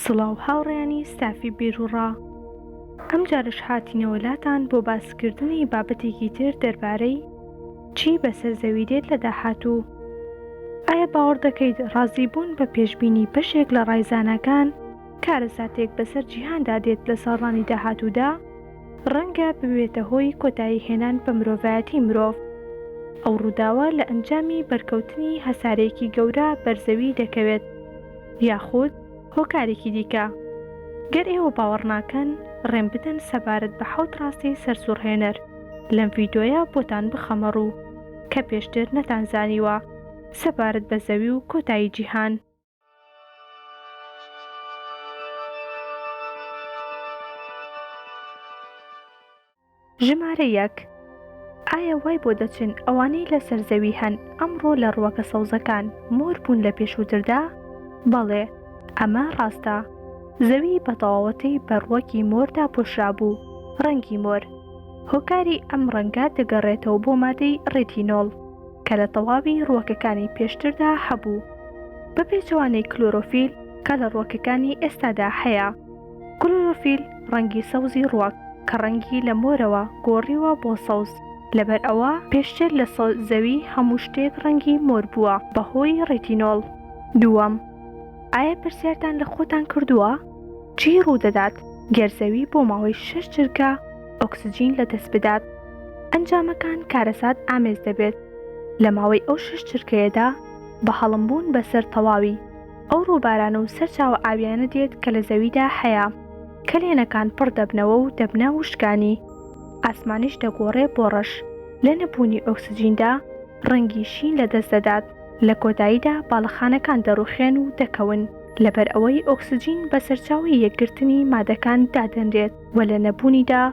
سڵاو هاوڕێیانی ستافی بیروڕا ئەمجارەش هاتینەوە لاتان بۆ باسکردنی بابەتێکی تر دەربارەی چی بەسەر زەوی دێت لە داهاتوو ئایا باوەڕ دەکەیت ڕازی بوون بە پێشبینی بەشێک لە ڕای زاناکان کارەساتێک بەسەر جیهاندا دێت لە ساڵانی داهاتوودا؟ ڕەنگە ببێتە هۆی کۆتایی هێنان بە مرۆڤایەتی مرۆڤ. ئەو ڕووداوە لە ئەنجامی بەرکەوتنی هەسارەیەکی گەورە بەر زەوی دەکەوێت یاخود هۆکارێکی دیکە. گەر ئێوە باوەڕ ناکەن ڕێم بدەن سەبارەت بە حەوت ڕاستی سەرسوڕهێنەر لەم ڤیدۆیە بۆتان بخەمە ڕوو کە پێشتر نەتانزانیوە سەبارەت بە زەوی و کۆتایی جیهان. ژمارە یەک ئایا وای بۆ دەچن ئەوانەی لە سەرزەوی هەن ئەمڕۆ لە ڕوەکە سەوزەکان مۆر بوون لە پێشووتردا؟ بەڵێ ئەمە ڕاستە زەوی بە تەواوەتی بە ڕوەکی مۆردا پۆشرابوو ڕەنگی مۆر هۆکاری ئەم ڕەنگە دەگەڕێتەوە بۆ مادەی ڕێتینۆڵ کە لە تەواوی ڕووەکەکانی پێشتردا هەبوو، بە پێچەوانەی کلۆرۆفیل کە لە ڕووەکەکانی ئێستادا هەیە. کلۆرۆفیل ڕەنگی سەوزی ڕووەک، کە ڕەنگی لە مۆرەوە گۆڕیوە بۆ سەوز، لەبەر ئەوە پێشتر لە زەوی هەموو شتێک ڕەنگی مۆر بووە بەهۆی ڕێتینۆڵ. دووەم، ئایا پرسیارتان لە خۆتان کردووە چی ڕوودەدات گەر زەوی بۆ ماوەی شەش جرگە، ئۆکسجین لە دەست بدات. ئەنجامەکان کارەسات ئامێز دەبێت. لە ماوەی ئەو شەش چرکەیەدا بە هەڵم بوون بە سەر تەواوی ئەو ڕووباران و سەرچاوە ئاویانە دێت کە لە زەویدا هەیە. کەلێنەکان پڕ دەبنەوە و دەبنە وشکانی. ئاسمانیش دەگۆڕێ بۆ ڕەش. لە نەبوونی ئۆکسجیندا ڕەنگی شین لە دەست دەدات. لە کۆتاییدا باڵەخانەکان دەڕووخێن و دەکەون. لەبەر ئەوەی ئۆکسجین بە سەرچاوەی یەکگرتنی مادەکان دادەنرێت. و لە نەبوونیدا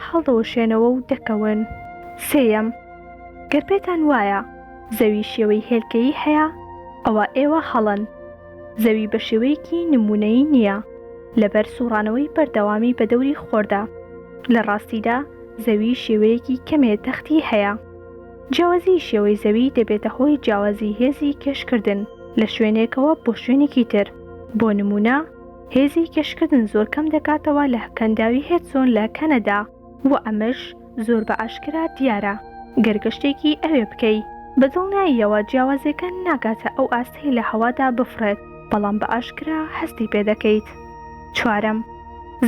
هەڵدەوەشێنەوە و دەکەون. سێیەم، گەر پێتان وایە زەوی شێوەی هێلکەیی هەیە، ئەوا ئێوە هەڵەن. زەوی بە شێوەیەکی نموونەیی نییە، لەبەر سووڕانەوەی بەردەوامی بە دەوری خۆردا. لە ڕاستیدا زەوی شێوەیەکی کەمێ تەختی هەیە. جیاوازیی شێوەی زەوی دەبێتە هۆی جیاوازیی هێزی کێشکردن لە شوێنێکەوە بۆ شوێنێکی تر. بۆ نموونە. هێزی کێشکردن زۆر کەم دەکاتەوە لە کەنداوی هێدسۆن لە کەنەدا و ئەمەش زۆر بە ئاشکرا دیارە گەر گەشتێکی ئەوێ بکەی. بە دڵنیاییەوە جیاوازیەکە ناگاتە ئەو ئاستەی لە هەوادا بفڕێت، بەڵام بە ئاشکرا هەستی پێ دەکەیت. چوارەم،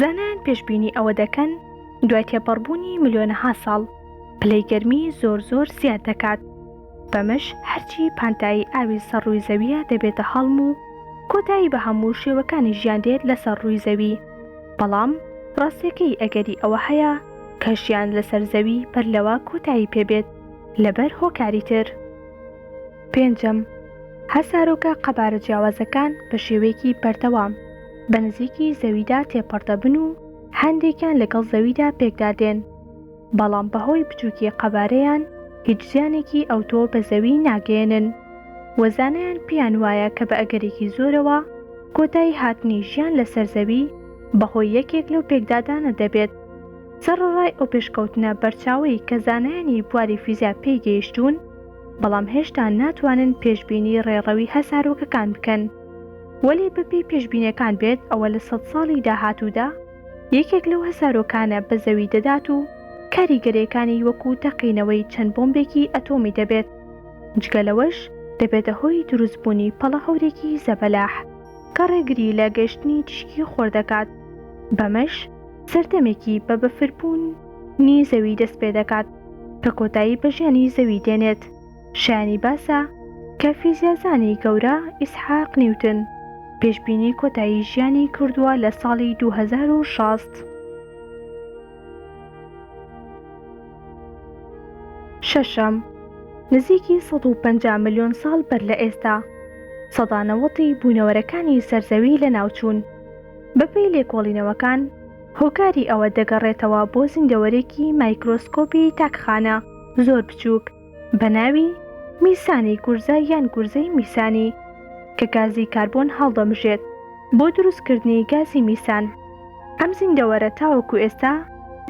زانایان پێشبینی ئەوە دەکەن دوای تێپەڕبوونی ملیۆنەها ساڵ، پلەی گەرمی زۆر زۆر زیاد دەکات. بەمەش هەرچی پانتایی ئاوی سەر ڕووی زەوییە دەبێتە هەڵم و کۆتایی بە هەموو شێوەکانی ژیان دێت لەسەر ڕووی زەوی، بەڵام ڕاستییەکەی ئەگەری ئەوە هەیە کە ژیان لەسەر زەوی بەر لەوە کۆتایی پێبێت لەبەر هۆکاری تر. پێنجەم، هەسارۆکە قەبارە جیاوازەکان بە شێوەیەکی بەردەوام بە نزیکی زەویدا تێپەڕدەبن و هەندێکیان لەگەڵ زەویدا پێکدادێن، بەڵام بەهۆی بچووکی قەبارەیان هیچ زیانێکی ئەوتۆ بە زەوی ناگەیەنن و زانایان پێیان وایە کە بە ئەگەرێکی زۆرەوە کۆتایی هاتنی ژیان لەسەر زەوی بەهۆی یەکێک لەو پێکدادانە دەبێت. سەڕەڕای ئەو پێشکەوتنە بەرچاوەی کە زانایانی بواری فیزیا پێی گەیشتوون، بەڵام هێشتا ناتوانن پێشبینی ڕێڕەوی هەسارۆکەکان بکەن. وەلێ بەپێی پێشبینیەکان بێت ئەوە لە سەد ساڵی داهاتوودا، یەکێک لەو هەسارۆکانە بە زەوی دەدات و کاریگەریەکانی وەکو تەقینەوەی چەند بۆمبێکی ئەتۆمی دەبێت، جگە لەوەش دەبێتە هۆی دروست بوونی پەڵە هەورێکی زەبەلاح کە ڕێگری لە گەشتنی تیشکی خۆر دەکات، بەمەش سەردەمێکی بە بەفر بوون نی زەوی دەست پێدەکات کە کۆتایی بە ژیانی زەوی دێنێت. شایانی باسە کە فیزیازانی گەورە ئیسحاق نیوتن پێشبینی کۆتایی ژیانی کردووە لە ساڵی دوو هەزار و شەست. شەشەم، نزیکی سەد و پەنجا ملیۆن ساڵ بەر لە ئێستا، سەدا نەوەد ی بوونەوەرەکانی سەر زەوی لەناوچوون. بەپێی لێکۆڵینەوەکان، هۆکاری ئەوە دەگەڕێتەوە بۆ زیندەوەرێکی مایکرۆسکۆپی تاکخانە زۆر بچووک، بە ناوی، میسانی گورزە یان گورزەی میسانی، کە گازی کاربۆن هەڵدەمژێت بۆ دروستکردنی گازی میسان. ئەم زیندەوەرە تاوەکو ئێستا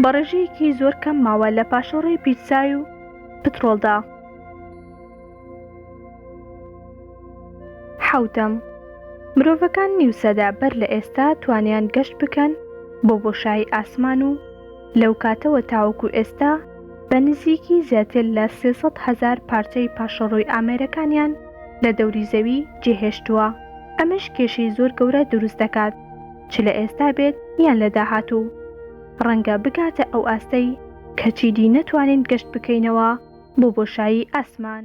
بە ڕێژەیەکی زۆر کەم ماوە لە پاشەڕۆی پیتزای و پتڕۆڵدا. حەوتەم، مرۆڤەکان نیو سەدە بەر لە ئێستا توانیان گەشت بکەن بۆ بۆشایی ئاسمان و لەو کاتەوە تاوەکو ئێستا، بە نزیکی زیاتر لە سێ سەد هەزار پارچەی پاشەڕۆی ئامێرەکانیان لە دەوری زەوی جێهێشتووە، ئەمەش کێشەی زۆر گەورە دروست دەکات، چ لە ئێستا بێت یان لە داهاتوو، ڕەنگە بگاتە ئەو ئاستەی کە چیدی نەتوانین گەشت بکەینەوە بۆ بۆشایی ئاسمان.